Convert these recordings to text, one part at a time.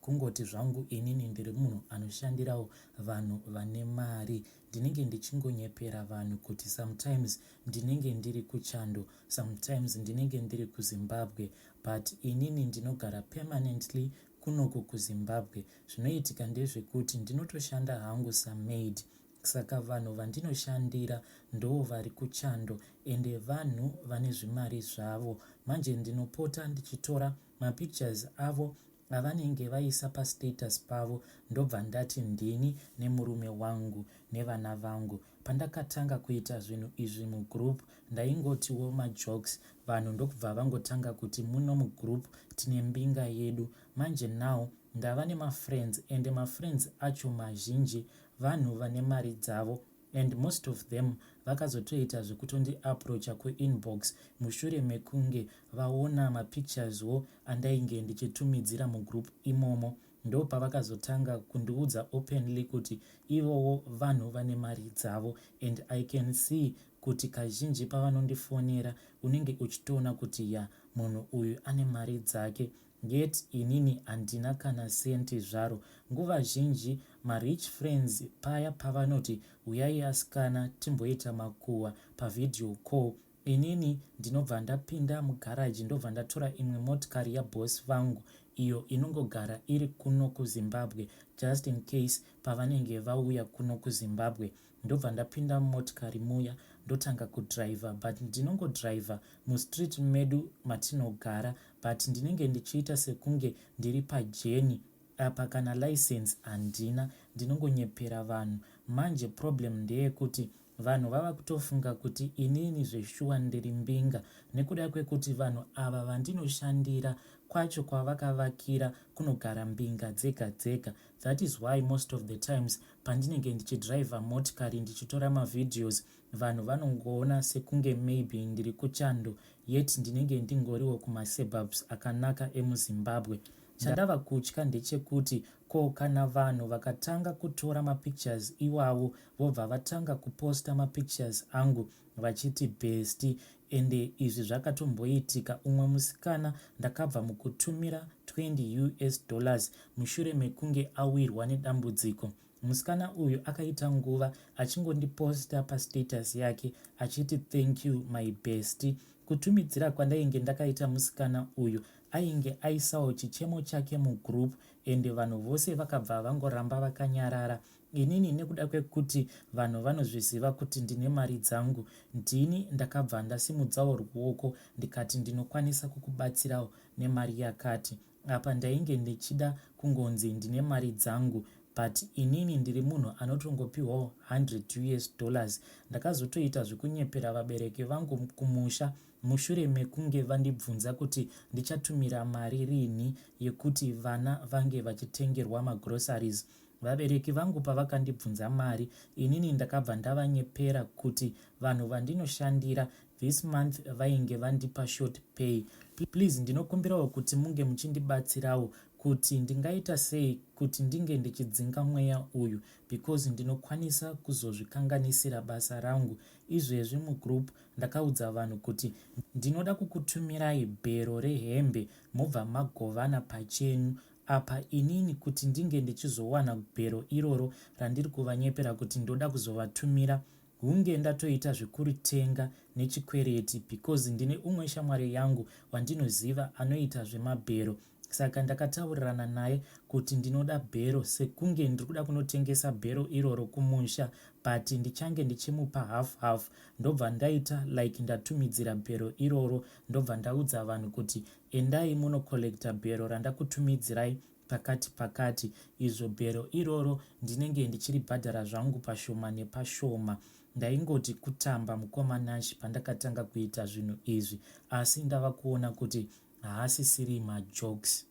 Kungoti zvangu inini ndiri munhu anoshandirawo vanhu vane mari ndinenge ndichingonyepera vanhu kuti sometimes ndinenge ndiri kuchando sometimes ndinenge ndiri kuzimbabwe but inini ndinogara permanently kunoku kuzimbabwe zvinoitika ndezvekuti ndinotoshanda hangu samaid saka vanhu vandinoshandira ndoo vari kuchando ende vanhu vane zvimari zvavo manje ndinopota ndichitora mapictures avo avanenge vaisa pastatus pavo ndobva ndati ndini nemurume wangu nevana vangu pandakatanga kuita zvinhu izvi mugroup ndaingotiwo majokes vanhu ndokubva vangotanga kuti muno mugroup tine mbinga yedu manje now ndava nemafriends ende mafriends acho mazhinji vanhu vane mari dzavo and most of them vakazotoita zvekutondi approacher kuinbox mushure mekunge vaona mapictures wo andainge ndichitumidzira mugroup imomo ndopavakazotanga kundiudza openly kuti ivowo vanhu vane mari dzavo and I can see kuti kazhinji pavanondifonera unenge uchitoona kuti ya munhu uyu ane mari dzake Yet inini handina kana cent zvaro. Nguva zhinji ma rich friends paya pavanoti huyai asikana timboita makuhwa pa video call inini ndinobva ndapinda mu garage ndobva ndatora imwe motikari ya boss vangu iyo inongogara iri kuno ku Zimbabwe just in case pavanenge vauya kuno ku Zimbabwe. ndobva ndapinda mumotikari muya ndotanga kudriver but ndinongodriver mustreet medu matinogara but ndinenge ndichiita sekunge ndiri pajeni apa kana license handina ndinongonyepera vanhu manje problem ndeyekuti vanhu vava kutofunga kuti inini zveshuwa ndiri mbinga nekuda kwekuti vanhu ava vandinoshandira kwacho kwavakavakira kunogara mbinga dzega dzega That is why most of the times pandinenge ndichidriver motikari ndichitora mavideos vanhu vanongoona sekunge maybe ndiri kuchando yet ndinenge ndingoriwo kumaseburbs akanaka emuzimbabwe. Chandava kutya ndechekuti ko kana vanhu vakatanga kutora mapictures iwawo vobva vatanga kuposta mapictures angu vachiti bhesti Ende izvi zvakatomboitika umwe musikana ndakabva mukutumira 20 us dollars mushure mekunge awirwa nedambudziko. Musikana uyu akaita nguva achingondiposta pastatus yake achiti thank you my bestie. Kutumidzira kwandainge ndakaita musikana uyu ainge aisawo chichemo chake mugroup ende vanhu vose vakabva vangoramba vakanyarara Inini nekuda kwekuti vanhu vanozviziva kuti ndine mari dzangu ndini ndakabva ndasimudzawo ruoko ndikati ndinokwanisa kukubatsirawo nemari yakati. Apa ndainge ndichida kungonzi ndine mari dzangu but inini ndiri munhu anotongopihwawo 100 us dollars. Ndakazotoita zvekunyepera vabereki vangu kumusha mushure mekunge vandibvunza kuti ndichatumira mari rinhi yekuti vana vange vachitengerwa magroceries. Vabereki vangu pavakandibvunza mari inini ndakabva ndavanyepera kuti vanhu vandinoshandira this month vainge vandipa short pay. Please ndinokumbirawo kuti munge muchindibatsirawo kuti ndingaita sei kuti ndinge ndichidzinga mweya uyu because ndinokwanisa kuzozvikanganisira basa rangu. Izvezvi mugroup ndakaudza vanhu kuti ndinoda kukutumirai bhero rehembe mobva magovana pachenyu Apa inini kuti ndinge ndichizowana gwero iroro randiri kuvanyepera kuti ndoda kuzovatumira hunge ndatoita zvekuritenga nechikwereti because ndine umwe shamwari yangu wandinoziva anoita zvemabhero saka ndakataurirana naye kuti ndinoda bhero sekunge ndiri kuda kunotengesa bhero iroro kumusha but ndichange ndichimupa half half ndobva ndaita like ndatumidzira bhero iroro ndobva ndaudza vanhu kuti Endai muno collector bhero randakutumidzirai pakati pakati izvo bhero iroro ndinenge ndichiribhadhara zvangu pashoma nepashoma. Ndaingoti kutamba mukoma Nash pandakatanga kuita zvinhu izvi asi ndava kuona kuti haasisiri majokes.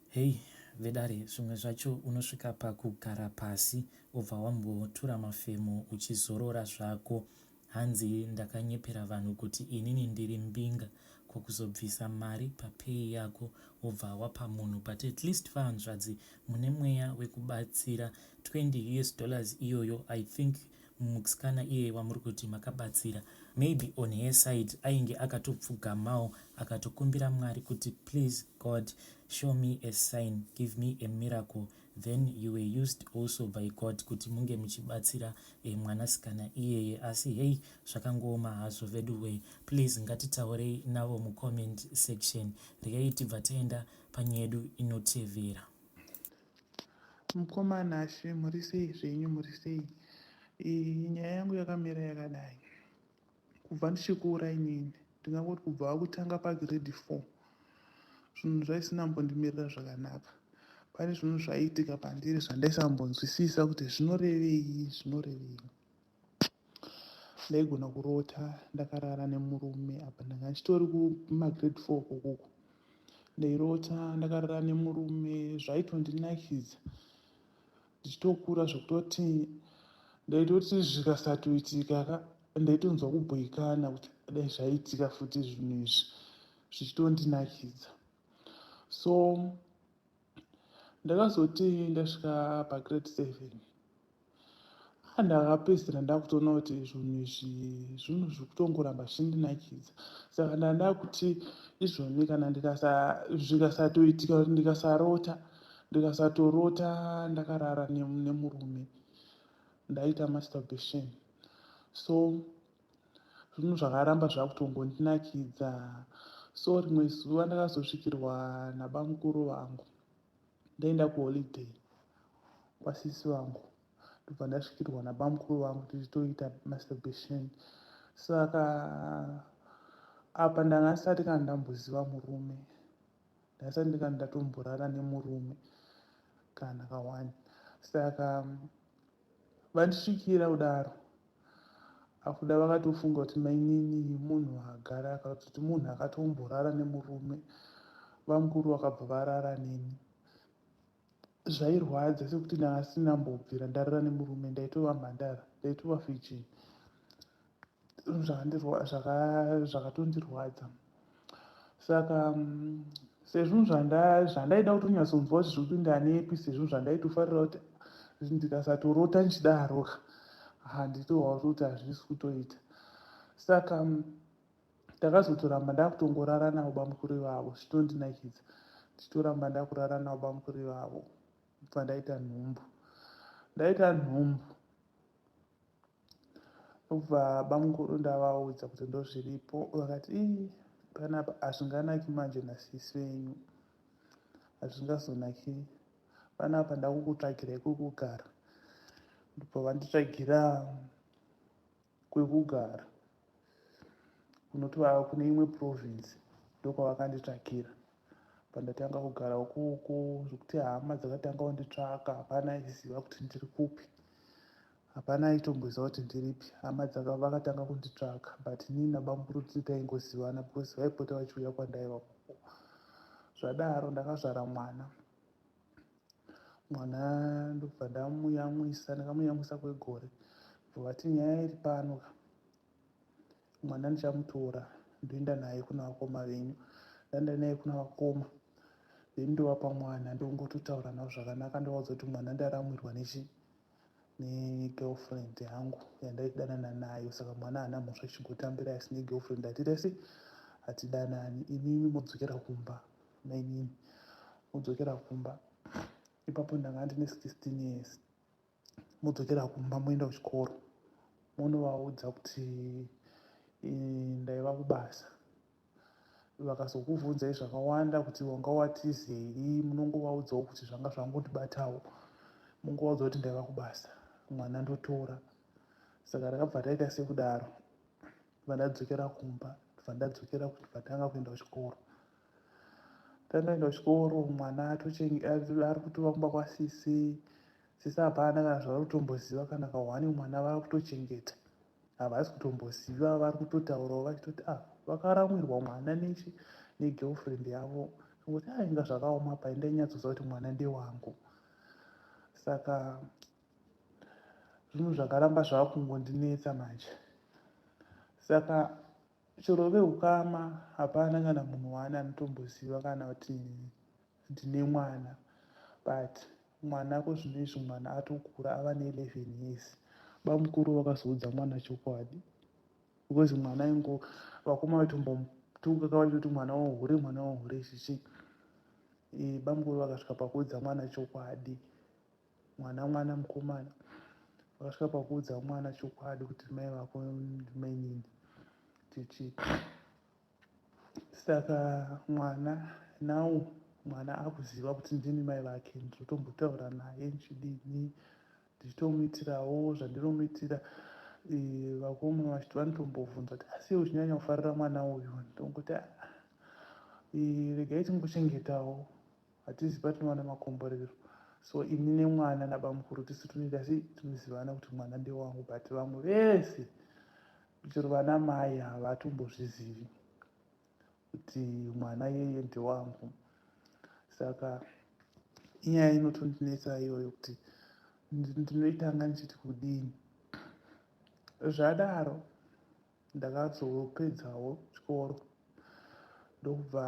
Hey vedare zvimwe zvacho unosvika pakugara pasi obva wambotura mafemo uchizorora zvako. Hanzi ndakanyepera vanhu kuti inini ndiri mbinga ko kuzobvisa mari papay yako wobva wapa munhu but at least vahanzvadzi mune mweya wekubatsira 20 us dollars iyoyo i think muksikana iye wamuri kuti makabatsira maybe on her side ainge akatopfugamawo akatokumbira mwari kuti please god show me a sign give me a miracle then you were used also by god kuti munge muchibatsira eh, mwanasikana iyeye asi hei zvakangooma hazvo veduwee please ngatitaurei navo mucomment section riyai tibva taenda panyaya yedu inotevera mukoma nashe muri sei zvenyu muri sei nyaya yangu yakamira yakadai kubva ndichikura inini ndingangoti kubva kutanga pagrade four zvinhu zvaisina mbondimirira zvakanaka pane zvinhu zvaiitika pandiri zvandaisambonzwisisa kuti zvinorevei zvinorevei ndaigona kurota ndakarara nemurume apa ndanga ndichitori kumagrade four kokoko ndairota ndakarara nemurume zvaitondinakidza ndichitokura zvekutoti ndaitoti zvikasatoitika ka ndaitonzwa kubhoikana kuti dai zvaitika futi zvinhu izvi zvichitondinakidza so ndakazoti ndasvika pagrade seven ah, ndakapedzisira ndakutoona kuti zvinhu izvi zvinhu zviri kutongoramba zvichindinakidza saka ndandakuti izvoni kana zvikasatoitika kuti ndikasarota ndikasatorota ndakarara nemurume ndaita masturbation so zvinhu zvakaramba zvakutongondinakidza so rimwe zuva ndakazosvikirwa nabamukuru vangu ndaenda kuholiday kwasisi vangu ndobva ndasvikirwa nabamukuru vangu tichitoita masturbation saka apa ndanga ndisati kana ndamboziva murume ndasati ndikati ndatomborara nemurume kana kawani saka vandisvikira kudaro akuda vakatofunga kuti mainini munhu agara akatoti munhu akatomborara nemurume vamukuru vakabva varara neni zvairwadza sekuti ndanga ndisina mbobvira ndarara nemurume ndaitova mhandara ndaitova virgin zvinhu zvakandirwa- zvaka- zvakatondirwadza saka mm, sezvinhu zvanda- zvandaida kutonyatsonzwa kuti zviri kupinda nepi sezvinhu zvandaitofarira kuti ndikasatorota ndichidaroka handitoa kuti hazvisi kutoita saka mm, ndakazotoramba ndakutongorara navo bamukuru ivavo zvitondinakidza ndichitoramba ndakurara navo bamukuru ivavo kubva ndaita nhumbu ndaita nhumbu ndokubva bamukuru ndavaudza kuti ndozviripo vakati ii panapa hazvinganaki manje nasisi venyu hazvingazonaki panapa ndakukutsvagirai kwekugara ndobva vanditsvagira kwekugara kunoti vava kune imwe province ndokwavakanditsvakira pandatanga kugara ukoko zvekuti hama dzakatanga kunditsvaka hapana aiziva kuti ndiri kupi hapana aitomboziva kuti ndiripi hama vakatanga kunditsvaka but nii nabamburudzi taingozivana because vaipota vachiuya kwandaiva koko zvadaro ndakazvara mwana mwana ndobva ndamuyamwisa ndakamuyamwisa kwegore ndovati nyaya iri pano ka mwana ndichamutora ndoenda naye kuna vakoma venyu ndaenda naye kuna vakoma venyu ndovapa mwana ndongototaura navo zvakanaka ndovaudza kuti mwana ndaramwirwa nechii negirlfriend yangu yandaidanana nayo saka mwana haana mhosva chigotambira asi negirlfriend hatirese hatidanani imimi modzokera kumba mainini modzokera kumba ipapo ndanga ndine 16 years modzokera kumba moenda kuchikoro monovaudza kuti eh, ndaiva kubasa vakazokuvhunzai zvakawanda kuti wanga watizei munongovaudzawo kuti zvanga zvangondibatawo mungovaudza kuti ndaiva kubasa mwana ndotora saka ndakabva ndaita sekudaro bva ndadzokera kumba bva ndadzokera vatanga kuenda kuchikoro tandoenda kuchikoro mwana ari kutova kumba kwasisi sisi hapana kana zvaari kutomboziva kana kahwani mwana vava kutochengeta havasi kutomboziva vari kutotaurawo vachitoti ah vakaramwirwa mwana nechi negirlfriend yavo ngokuti ah inga zvakaoma pai ndainyatsoziva kuti mwana ndewangu saka zvinhu zvakaramba zvava kungondinetsa manje saka chero veukama hapana kana munhu waani anotomboziva kana kuti ndine mwana but mwana ko zvino izvi mwana atokura ava ne11 years bamukuru vakazoudza mwana chokwadi because mwana ingo vakoma vaitombotunga ka vachitoti mwana wohure mwana wohure chichi e, bamukuru vakasvika pakuudza mwana chokwadi mwana mwana mukomana vakasvika pakuudza mwana chokwadi kuti mai vako mainini chichi saka mwana now mwana akuziva kuti ndini mai vake ndizotombotaura naye ndichidini ndichitomuitirawo zvandinomuitira eh, vakoma vachiti vanotombobvunza kuti asi iwe uchinyanya kufarira mwana uyu ndongoti ah, eh, regai tingochengetawo hatizivi patinowana makomborero so ini nemwana nabamukuru tisu tunoita asi tinozivana kuti mwana ndewangu but vamwe vese chero vana mai havatombozvizivi kuti mwana yeye ndewangu saka inyaya inotondinetsa iyoyo kuti ndinoitanga ndichiti kudini zvadaro ndakazopedzawo chikoro ndokubva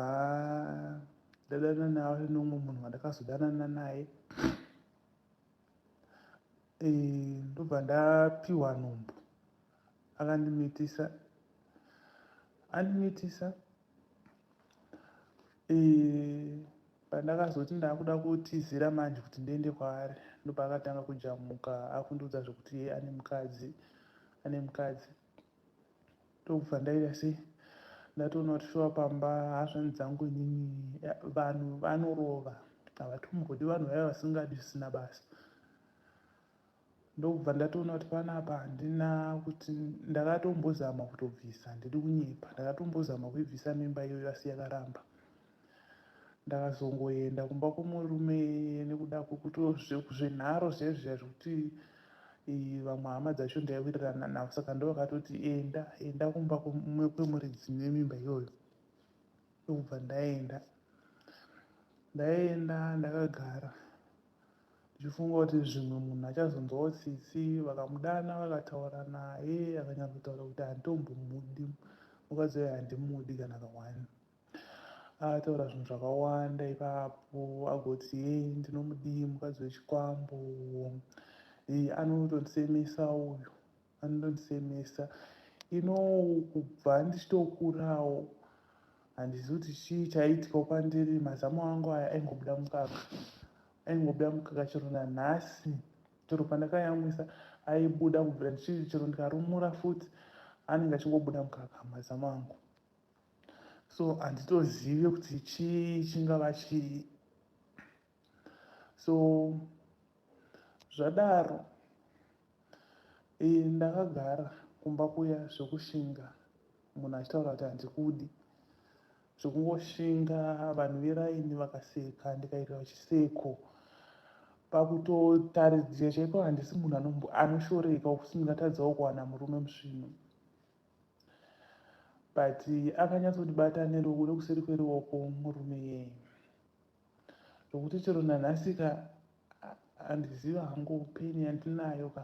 ndadana naye nomwe munhu wandakazodanana naye eh, ndobva ndapiwa nhumbu akandimitisa andimitisa pandakazoti ndakuda kutizira manje kuti ndiende kwaari ndopaakatanga kujamuka akundiudza zvekuti ye ane mukadzi ane mukadzi ndokubva ndaita se ndatoona kuti shuwa pamba hazvani dzangu inini vanhu vanorova havatombodi vanhu vaya vasingadi zvisina basa ndokubva ndatoona kuti panapa handina kuti ndakatombozama kutobvisa handidi kunyepa ndakatombozama kuibvisa mimba iyoyo asi yakaramba ndakazongoenda kumba kwomurume nekuda kwekuto zvenharo zviya zviya zvekuti eh, vamwe hama dzacho ndaiwirirana navo saka ndovakatoti enda enda kumba kwemumwe kwemuridzi nemimba iyoyo ndokubva ndaenda ndaenda ndakagara ndichifunga kuti zvimwe munhu achazonzwawo tsitsi vakamudana vakataura naye akanyatsotaura kuti handitombomudi mukadzi waye handimudi kana kawani ataura zvinhu zvakawanda ipapo agoti ye ndinomudii mukadzi wechikwambo anotondisemesa uyu anondisemesa you know kubva ndichitokurawo handizivi kuti chii chaiitikawo kwandiri mazamu angu aya aingobuda mukaka aingobuda mukaka chero nanhasi chero pandakayamwisa aibuda kubvira ndichii chero ndikarumura futi anenge achingobuda mukaka mazamu angu so handitozive kuti chii chingava chii so zvadaro e, ndakagara kumba kuya zvekushinga munhu achitaura kuti handikudi zvekungoshinga vanhu veraini vakaseka ndikaitira chiseko pakutotaridzira chaiko handisi munhu anoshoreka ukuti ndingatadzawo kuwana murume musvino but akanyatsondibata neruoko nekuseri kweruoko murume yeye zvokuti chero nanhasi ka handiziva hangu peni yandinayo ka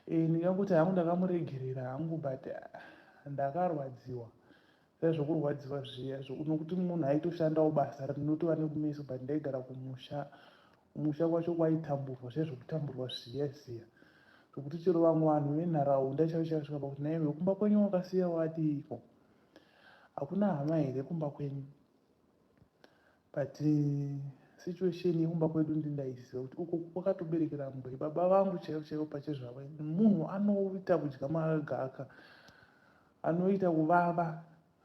e, ndingakuti hangu ndakamuregerera hangu but ndakarwadziwa zai zvokurwadziwa zviya nokuti munhu aitoshandawo basa rinotova nekumeso but ndaigara kumusha kumusha kwacho kwaitamburwa zviya zvokutamburwa zviya ziya zvokuti chero vamwe vanhu venharaunda chaichasvika pakuti naive kumba kwenyu wakasiya wadiiko hakuna hama here kumba kwenyu but eh, situation yekumba kwedu ndindaiziva kuti uko kwakatoberekera mbwe baba vangu chaivo chaivo pachezvavo munhu anoita kudya magaka anoita kuvava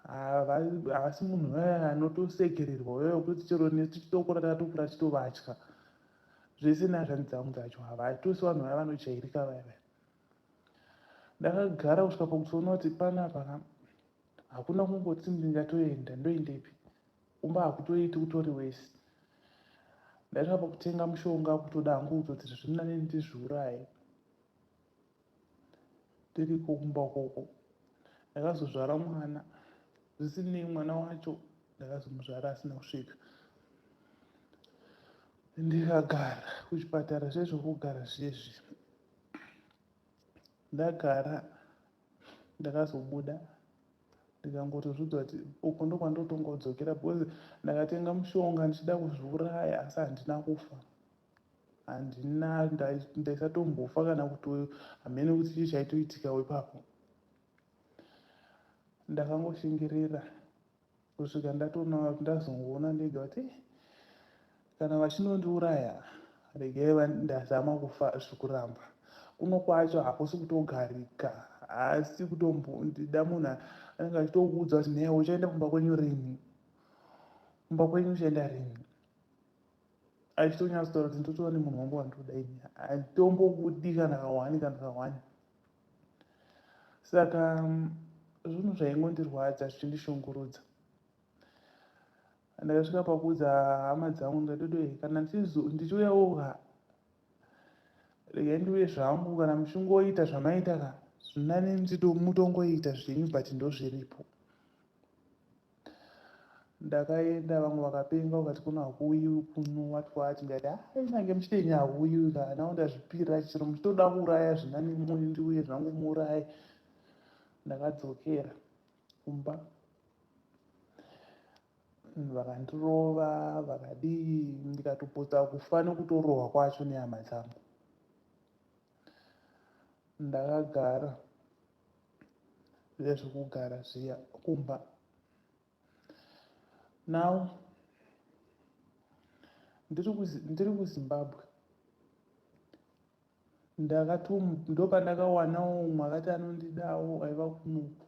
havasi munhu anotosekererwa uyo wekuti chero nesu titokura tatokura titovatya zvese nazvani dzangu dzacho havatose vanhu vaya vanojairika vaya vaya ndakagara kusvika pakutoona kuti panapa hakuna kungoti ndingatoenda ndoendepi kumba hakutoiti kutori wese ndaitova pakutenga mushonga kutoda hangu kutoti zvirinani ndizviuraye ndiriko kumba ukoko ndakazozvara mwana zvisinei mwana wacho ndakazomuzvara asina kusvika ndikagara kuchipatara zvezvokugara zvezvi ndagara ndakazobuda ndikangotozviudza kuti uko ndokwandotonga kudzokera because ndakatenga mushonga ndichida kuzviuraya asi handina kufa handina ndaisatombofa kana kuti hamene kuti chii chaitoitikawo ipapo ndakangoshingerera kusvika ndatoona ndazongoona ndega kuti eh, kana vachinondiuraya regai ndazama kufa zvekuramba kuno kwacho hakusi kutogarika haasi kutombondida munhu anenge achitokuudza kuti newe uchaenda kumba kwenyu rini kumba kwenyu uchaenda rini achitonyatsotaura kuti ndotoona nemunhu wangu wandoda ini handitombokudikanakawani kanakawani saka zvinhu zvaingondirwadza zvichindishungurudza ndakasvika pakuudza hama dzangu ndikatodo kana ndichiuyawo ka regai ndiuye zvangu kana muchingoita zvamaita ka zvinani mutongoita zvenyu but ndozviripo Ndakaenda vamwe vakapenga vakati kuno hakuuyiwi kuno what what ndikati ah kunyange muchitenyi hakuuyiwi ka now ndazvipira chero muchitoda kuuraya zvina nemoni ndiuye zvangu muuraye. Ndakadzokera kumba mm, vakandirova vakadii ndikatopotsa kufa nekutorohwa kwacho nehama dzangu. Ndakagara zviya zvekugara zviya kumba now ndiri kuzimbabwe ndakatom ndopandakawanawo umwe akati anondidawo aiva kunoku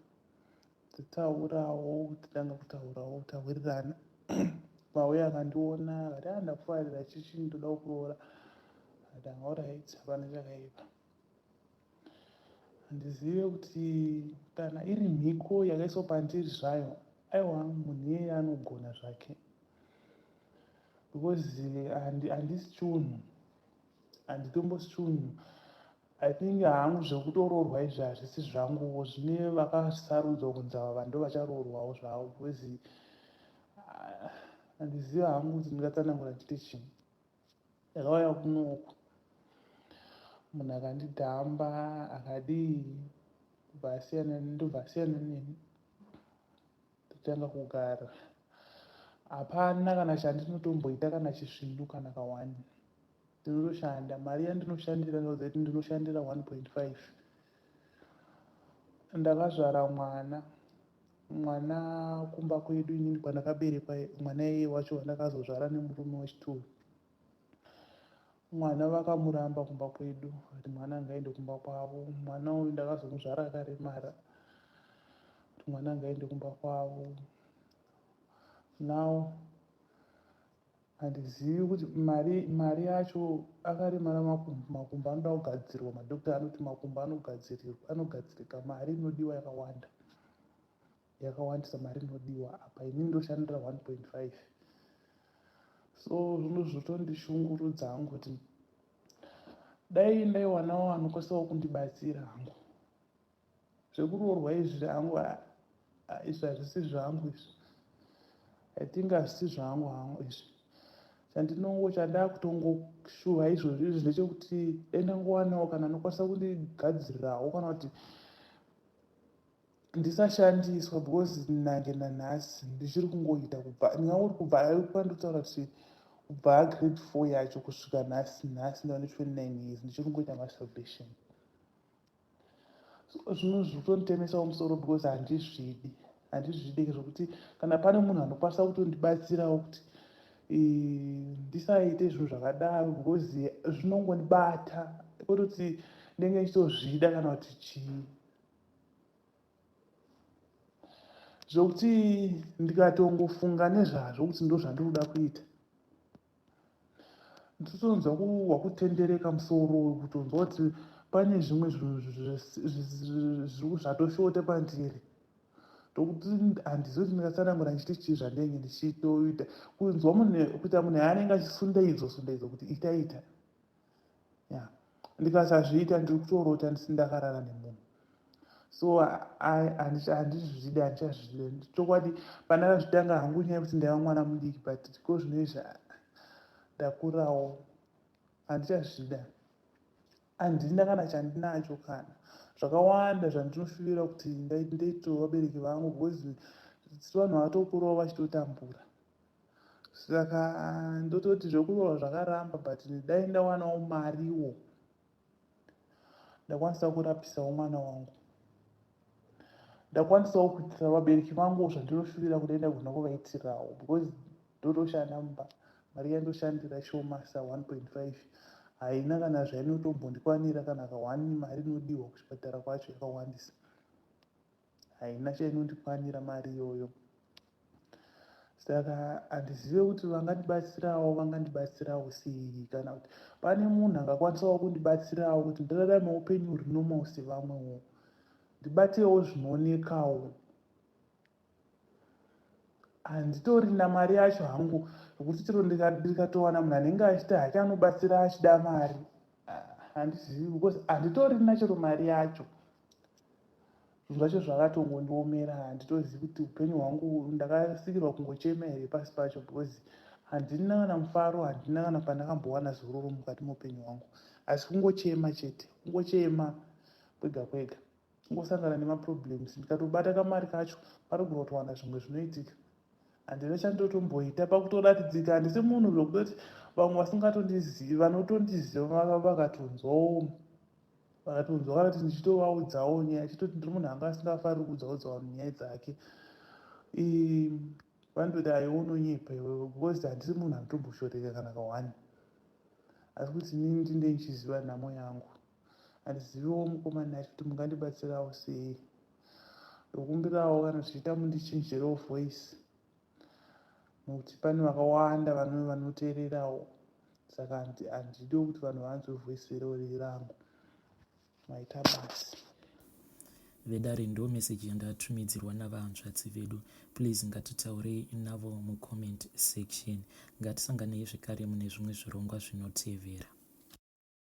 titaurawo titanga kutaurawo tawirirana mauya akandiona akati andakufarira ah, chichii ndoda kuroora ati aorit hapana chakaipa Handizive kuti kana iri mhiko yakaiswa pandiri zvayo. Aiwa munhu iyeye anogona zvake because handi, handisi chunhu handitombosi chunhu i think hangu zvekutoroorwa izvi hazvisi zvanguwo zvine vakasarudzwa kunzi ava vanhu ndovacharo-orwawo zvavo because ah, handiziva hangu kuti ndingatsanangura ndiite chii ndakauya kunoku munhu akandidhamba akadii kubva asiyana ndobva asiyana neni ndotanga kugara hapana kana chandinotomboita kana chisvindu kana kawani ndinotoshanda mari yandinoshandira ndinoziva kuti ndinoshandira 1.5 ndakazvara mwana mwana kumba kwedu inini kwandakaberekwa mwana iye wacho wandakazozvara nemurume wechituru mwana vakamuramba kumba kwedu kuti mwana angaende kumba kwavo mwana uyu ndakazomuzvara akaremara kuti mwana angaende kumba kwavo now Handizivi kuti mari mari yacho akaremara makumbo makumbo anoda kugadzirwa madoctor anoti makumbo anogadzirirwa anogadzirika mari inodiwa yakawanda yakawandisa mari inodiwa apa ini ndoshandira 1.5 so zvino zvotondishungurudza hangu kuti dai ndaiwanawo anokwanisa kundibatsira hangu zvekuroorwa izvi hangu izvi hazvisi zvangu izvi i think hazvisi zvangu hangu izvi chandinongo chandakutongoshuva izvozvi izvi ndechekuti dai ndangowanawo kana anokwanisa kundigadzirirawo kana kuti ndisashandiswa because nange nanhasi ndichiri kungoita kubva ndingangori kubva kwandotaura kuti kubva agrade four yacho kusvika nhasi nhasi ndava ne twenty nine years ndichiri kungoita masalvation zvino zvitonitemesawo musoro because handizvidi handizvidi zvekuti kana pane munhu anokwanisa kutondibatsirawo kuti ndisaite zvinhu zvakadaro because zvinongonibata kwetoti ndenge ndichitozvida kana kuti chii zvokuti ndikatongofunga nezvazvo kuti ndozvandiri kuda kuita nditonzwa wakutendereka musoro uyu kutonzwa kuti pane zvimwe zvinhu zvatoshota pandiri tokuti handizivi kuti ndingatsanangura ndichiti chii zvandenge ndichitoita kunzwa kuita munhu yaanenge achisundaidzwa sundaidzwa kuti itaita ita. yeah. ndikasazviita ndiri kutorota ndisi ndakarara nemunhu so handizvizvidi handichazvizvi chokwadi pana kazvitanga hangu nyaya yekuti ndaiva mwana mudiki but ko zvinoizvi ndakurawo handichazvida handina kana chandinacho kana zvakawanda zvandinofivira kuti ndaitovabereki vangu because vanhu vatokurawo vachitotambura saka ndototi zvekurohwa zvakaramba but dai ndawanawo mariwo ndakwanisa kurapisawo mwana wangu ndakwanisawo kuitira vabereki vangu zvandinoshuvira kuti enda kugona kuvaitirawo because ndotoshanda mumba mari yandoshandira shoma sa 1.5 haina kana zvainotombondikwanira kana ka one mari inodiwa kuchipatara kwacho yakawandisa haina chainondikwanira mari iyoyo saka handizive kuti vangandibatsirawo vangandibatsirawo sei kana kuti pane munhu angakwanisawo kundibatsirawo kuti ndirarame upenyu huri normal sevamwewo ndibatewo zvinoonekawo handitorina mari yacho hangu yokuti chero ndikatowana munhu anenge achiti hake anobatsira achida mari ah, handizivi because handitorina chero mari yacho zvinhu zvacho zvakatongondiomera handitozivi kuti upenyu hwangu ndakasikirwa kungochema here pasi pacho because handina kana mufaro handina kana pandakambowana zororo mukati meupenyu hwangu asi kungochema chete kungochema kwega kwega kungosangana nemaproblems ndikatobata kamari kacho parogona kutowana zvimwe zvinoitika handina chandotomboita pakutoratidzika handisi munhu zvokutoti vamwe vasingatondizivi vanotondiziva vakatonzwawo vakatonzwa kana kuti ndichitovaudzawo nyaya chitoti ndiri munhu anga asingafariri kudzaudza vanhu nyaya dzake vanototi aiwe unonyepa iwewe because handisi munhu anotomboshoreka kana kawani asi kuti inini ndinde ndichiziva nhamo yangu handiziviwo mukomana yacho kuti mungandibatsirawo sei ndokumbirawo kana zvichiita mundichinjirewo voice Nokuti pane vakawanda vanove vanoteererawo. Saka handi- handido kuti vanhu vanzwe voice iro riri rangu. Maita basa. vedare ndo message yandatumidzirwa navahanzvadzi vedu please ngatitaurei navo mucomment section ngatisanganei zvekare mune zvimwe zvirongwa zvinotevera